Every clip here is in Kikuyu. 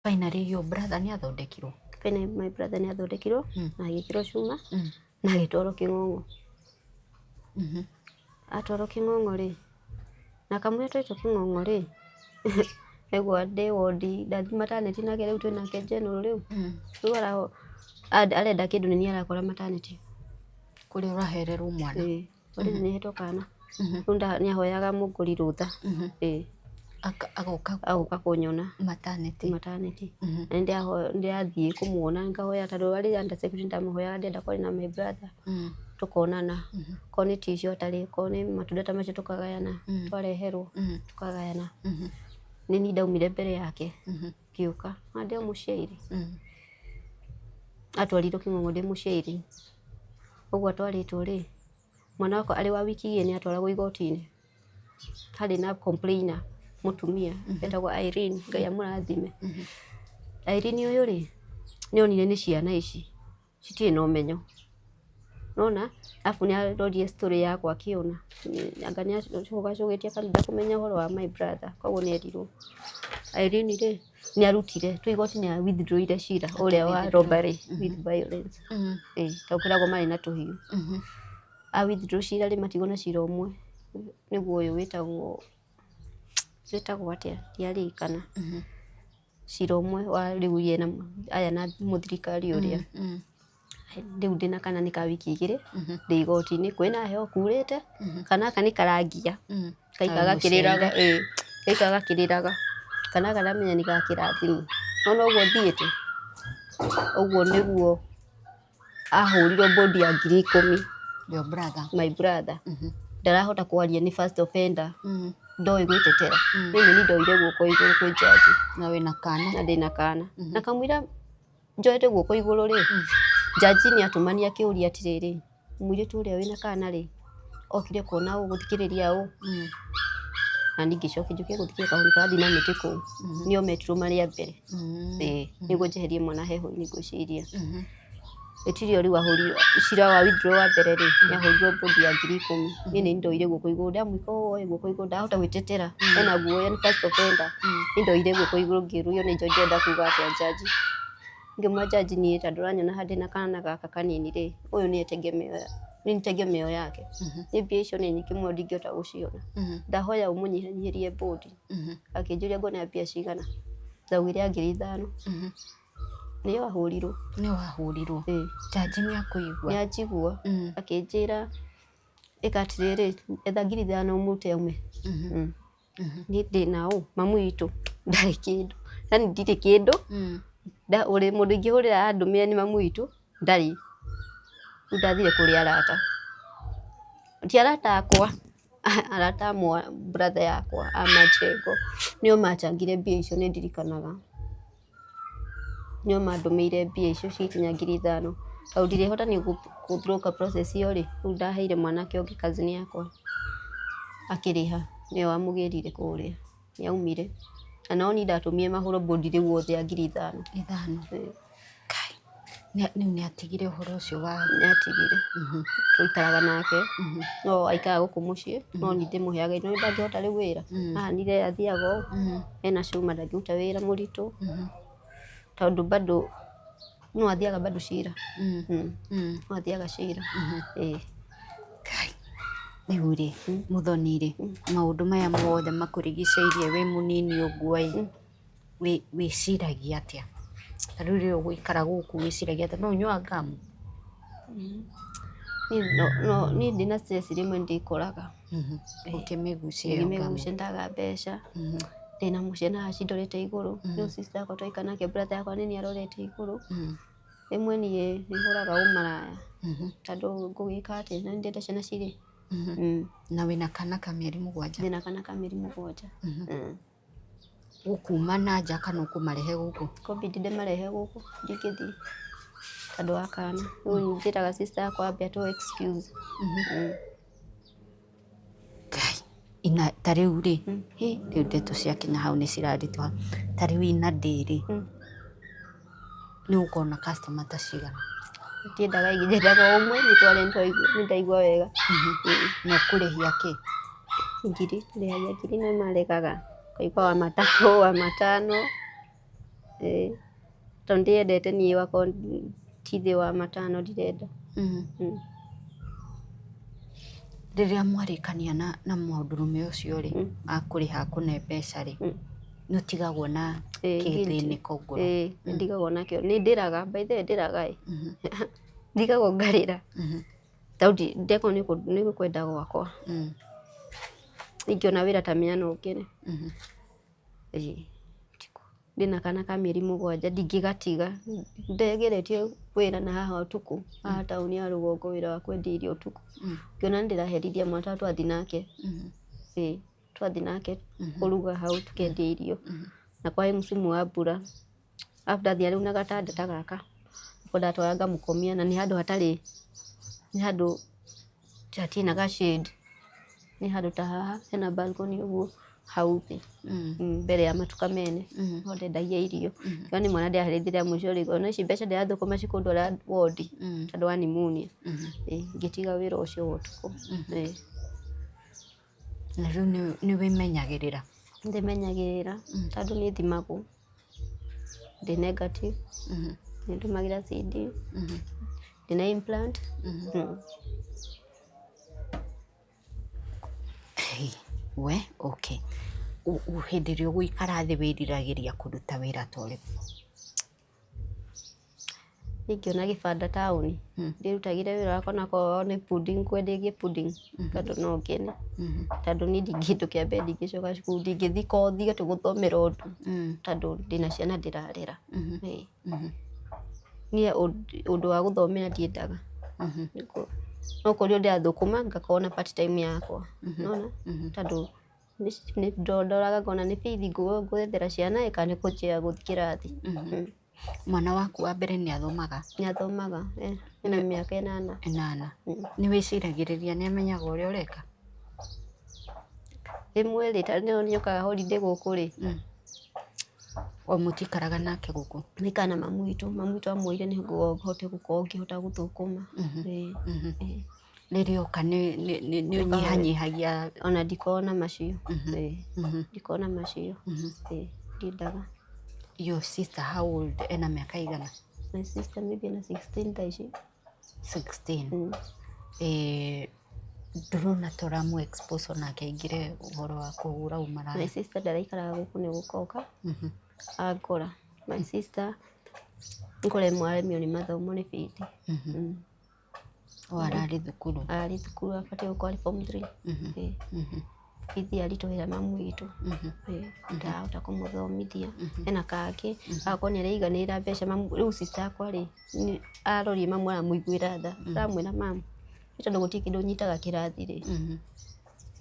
Finally your brother nĩ athondekirwo. Finally my brother nĩ athondekirwo mm. na agĩkĩrwo cuma mm. na agĩtwarwo Kĩng'ong'o. Mm -hmm. Atwarwo Kĩng'ong'o rĩ na kamũira twaitwo Kĩng'ong'o rĩ egwa ndĩ wondi ndathi mataneti nake rĩu twĩ nake general rĩu mm. rĩu arenda kĩndũ nĩ niĩ arakora mataneti kũrĩa ũrahererwo mwana. Mm. Rĩu Mhm. nĩ hĩtwo kana. Mhm. Rĩu nda- nĩ ahoyaga mũngũri rũtha. Mhm. Ĩĩ. Aka- agoka Agoka kũnyona mataneti mataneti. Mhm. Na nĩ ndĩrathiĩ kũmuona ngahoya tondũ arĩ under security ndamuhoyaga ndĩenda kwaria na my brother. Mhm. Tũkonana. Mhm. Korwo nĩ tissue atarĩ, korwo nĩ matunda ta macio tũkagayana. Mhm. Twareherwo Mhm. tũkagayana. Mhm. Nĩ niĩ ndaumire mbere yake. Mhm. ngĩũka na ndĩ o mũciairĩ atwarirwo kĩng'ong'o ndĩ mũciairĩ ũguo atwarĩtwo rĩ mwana wakwa arĩ wa wiki igĩrĩ nĩ atwaragwo igoti-inĩ harĩ na complainer mũtumia etagwo Irene Ngai amũrathime Irene ũyũ rĩ nĩ onire nĩ ciana ici citirĩ na ũmenyo, nĩwona? Arabu nĩ arorire story yakwa akĩona, anga nĩ acũgacũgĩtie kanitha kũmenya ũhoro wa my brother, koguo nĩ erirwo. Irene rĩ, nĩ arutire, twĩ igoti nĩ a withdraw ire cira ũrĩa wa robbery with violence, ĩĩ, tondũ kwĩragwo marĩ na tũhiũ. A withdraw cira rĩ, matigwo na cira ũmwe, nĩguo ũyũ wĩtagwo, wĩtagwo atĩa, ndiaririkana. cira ũmwe wa rĩu ye na aya na mũthirikari ũrĩa rĩu ndĩna kana nĩ ka wiki igĩrĩ ndĩ igoti-inĩ kwĩ na heho kurĩte kana aka nĩ karangia gaika gakĩrĩraga ĩĩ gaika gakĩrĩraga kana aka ndamenya nĩ ga kĩrathimo nĩ wona ũguo thiĩte ũguo nĩguo ahũrirwo bodi ya ngiri ikũmi Your brother. my brother Mhm. ndarahota kwaria nĩ first offender Mhm. ndoĩ gwĩtetera Mm. mimi ni ndoire guoko igũrũ kwĩ jaji Na wĩna kana. na ndĩna kana Mhm. na kamwira njoete guoko igũrũ rĩ jaji nĩ atumania kĩũria atĩrĩrĩ mũirĩtu ũrĩa wĩna kana rĩ okire kuona ũũ, gũthikĩrĩria ũũ, na niĩ ngĩcoka njũke gũthikĩrĩria kahũri karathiĩ na mĩtĩ kũu, nĩo metirwo marĩ a mbere, ĩĩ, nĩguo njeherie mwana heho niĩ ngwĩciria. Gũtirĩ o rĩu wahũrirwo, cira wa withdrawal wa mbere rĩ, nĩ ahũrirwo bond ya ngiri ikũmi, niĩ nĩ ndoire guoko igũrũ, ndamũĩka ũũ ĩ, guoko igũrũ ndahota gwĩtetera, ena guoya nĩ first offender, nĩ ndoire guoko igũrũ ngĩũrio nĩ njoĩ ndĩrenda kuuga atĩa njanji. Ngĩmũria judge niĩ ta ndũranyona handũ na kana gaka kanini rĩ, ũyũ nĩye tegemeo ya- nĩ niĩ tegemeo yake. Niĩ mbia icio nĩ nyingĩ mũno ndingĩhota gũciona. Ndahoya ũmũnyihanyihĩrie bũndi. Akĩnjũria ngũnengera mbia cigana, ndaugire angĩrĩ ithano. Nĩyo ahũrirwo. Nĩwe wahũrirwo. Ĩĩ. Judge nĩ akũigua. Nĩanjigua, Mm. akĩnjĩra ĩka atĩrĩrĩ, etha ngiri ithano ũmũrute aume. Mm. nĩ thĩna ũũ, mamu witũ ndarĩ kĩndũ, yaani ndirĩ kĩndũ, mũndũ ingĩhũrĩra andũmĩre nĩ mamu witũ ndarĩ, rĩu ndathire kũrĩ arata, ti arata akwa, arata a brother yakwa a Manjengo, nĩo manjangire mbia icio nĩndirikanaga. nĩo mandũmĩire mbia icio cikinya ngiri ithano, tondũ ndirĩhota niĩ gũ block process ĩyo rĩ, rĩu ndaheire mwanake ũngĩ cousin yakwa akĩrĩha, nĩwe wamũgĩrire kũrĩa, nĩ aumire, na no niĩ ndatũmire mahũrwo bũndi rĩu othe a ngiri ithano. Rĩu nĩ atigire ũhoro ũcio wa. Nĩ atigire. Twaikaraga nake, no aikaraga gũkũ mũciĩ, no niĩ ndĩmũheaga irio. Nĩ ndangĩhota rĩu wĩra. Ahanire athiaga ũũ, ena cuma ndangĩruta wĩra mũritũ, tondũ bado no athiaga bado cira. No athiaga cira. Ĩĩ. Kai. Rĩu rĩ, Mũthoni rĩ, maũndũ maya mothe makũrigicĩirie wĩ mũnini ũguo ĩ. wĩciragia atĩa? Ta rĩu rĩrĩa ũgũikara gũkũ wĩciragia atĩa? No ũnyuaga ngamu? Niĩ ndĩ na stress rĩmwe nĩ ndĩkoraga. Ũkĩmĩgucia ĩyo ngamu. Ngĩmĩgucia ndaga mbeca, ndĩna mũciĩ na aci ndorete igũrũ, rĩu sister yakwa twaikara nake brother yakwa nĩ niĩ arorete igũrũ. Rĩmwe niĩ nĩ hũraga ũmaraya tondũ ngũgĩka atĩa na nĩ ndĩrenda ciana cirĩe. Na wĩna kana ka mĩeri mũgwanja? Ndĩna kana ka mĩeri mũgwanja. gũkuma na nja kana ũkũmarehe gũkũ? Ikũbidi ndĩmarehe gũkũ ndingĩthiĩ tondũ wa kana. Rĩu njĩraga sister yakwa ambe atũ excuse. Ngai, ina ta rĩu rĩ, hĩ, rĩu ndeto ciakinya hau nĩ ciraritũha. Ta rĩu ina ndĩ rĩ. nĩ gũkoragwo na customer ta cigana? Ndiendaga aingĩ nyendaga o ũmwe nĩ tondũ nĩ ndaigua wega. Na ũkũrĩhia kĩ? Ngiri, ndĩrĩhagia ngiri na maregaga ngaigua wa matatũ, wa matano, tondũ ndĩyendete niĩ wakorwo ti thĩ wa matano ndirenda. Rĩrĩa mwarĩkania na mũndũrũme ũcio rĩ, akũrĩha akũne mbeca rĩ? nĩ ũtigagwo na Eh, guilty. kĩthĩnĩko ngoro Eh, nĩ ndigagwo nakĩo nĩ ndĩraga by the way ndĩraga ĩ Mhm, ndigagwo ngarĩra mhm, tau ndi- ndekwo nĩ kũ- nĩ kwenda gwakwa mhm, ingĩona wĩra ta mĩana ũngĩrĩ mhm. ndĩna kana ka mĩeri mũgwanja ndingĩgatiga ndegeretie wĩra na haha ũtukũ haha taũni ya rũgongo wĩra wa kwendia irio ũtukũ Mm. ngĩona nĩ ndĩraherithia mwana twa twathi nake Mhm. ĩĩ twathiĩ nake kũruga hau tũkendia irio na kwarĩ msimu wa mbura after athiĩ rĩu na gatanda ta gaka nĩko ndatwara ngamũkomia na nĩ handũ hatarĩ nĩ handũ hatirĩ na ga shade nĩ handũ ta haha hena balcony ũguo hau thĩ Mm, mbere ya matuka mene ho ndendagia irio no nĩ mwana ndĩaharĩthire mũico rĩgo no ici mbeca ndĩrathũkũma cikũndwara wondi tondũ wa pneumonia Ĩĩ, ngĩtiga wĩra ũcio wa ũtukũ Ĩĩ. Na rĩu nĩ wĩmenyagĩrĩra? Nĩ ndĩmenyagĩrĩra tondũ nĩ thimagwo ndĩ negative, nĩ ndũmagĩra CD, ndĩ na implant. We okay, hĩndĩ ĩrĩa ũgũikara thĩ wĩriragĩria kũruta wĩra ta ũrĩkũ? Ingĩona gĩbanda taũni ndĩrutagĩre wĩra wakwa ona korwo nĩ pudding ngwenderie pudding bado no ngene tondũ niĩ kĩndũ kĩa mbere ndingĩcoka cukuru, ndingĩthiĩ kothi atĩ gũthomera ũndũ tondũ ndĩna ciana ndĩrarera. Niĩ ũndũ wa gũthomera ndiendaga, no kũrĩ ũndĩrathũkũma ngakorwo na part time yakwa nĩwona tondũ... Ndoraga ngona nĩ bithi ngwethera ciana ĩĩ kana nĩ kũnjia ngũthiĩ kĩrathi. Mwana waku wa mbere nĩ athomaga? Nĩ athomaga ee, ena mĩaka ĩnana. Ĩnana. Nĩ wĩciragĩrĩria nĩ amenyaga ũrĩa ũreka? Rĩmwe rĩ, ta rĩu nĩ okaga holiday gũkũ rĩ, o mũtikaraga nake gũkũ? Maikaraga na mamu witũ, mamu witũ amũĩire nĩ ho ngoragwo ngĩhota gũthũkũma. rĩrĩa oka nĩ nĩ nĩ nĩ ũnyihanyihagia ona ndikoragwo na macio Mhm. Ĩĩ, Mhm, ndikoragwo na macio mhm. Ĩĩ, ndindaga your sister how old ena mĩaka igana my sister maybe na 16 thaa ici 16 Mm. eh, ndũrona toramu expose onake aingĩre ũhoro wa kũhũra my ũmaraya sister ndaraikaraga gũkũ nĩ gũkoka Mhm, angora my sister ngora ĩmwe aremio nĩ mathomo nĩ bithi mhm. Mm. O ararĩ thukuru. Ararĩ thukuru abatiĩ gũkorwo arĩ form three. Bithi aritũhĩra mamu witũ. Ndarahota kũmũthomithia. Ena kangĩ agakorwo nĩ araiganĩra mbeca. Rĩu sister yakwa rĩ, arorire mamu aramũiguĩra tha. Aramwĩra, Mamu, nĩ tondũ gũtirĩ kĩndũ nyitaga kĩrathi rĩ.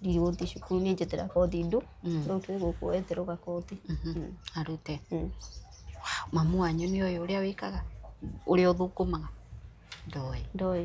ndirĩgũthiĩ cukuru niĩ njetera kothi ndũ, rĩu twĩ gũkũ we etera o gakothi. Arute. Mamu wanyu nĩ oĩ ũrĩa wĩkaga, ũrĩa ũthũkũmaga? Ndoĩ. Ndoĩ.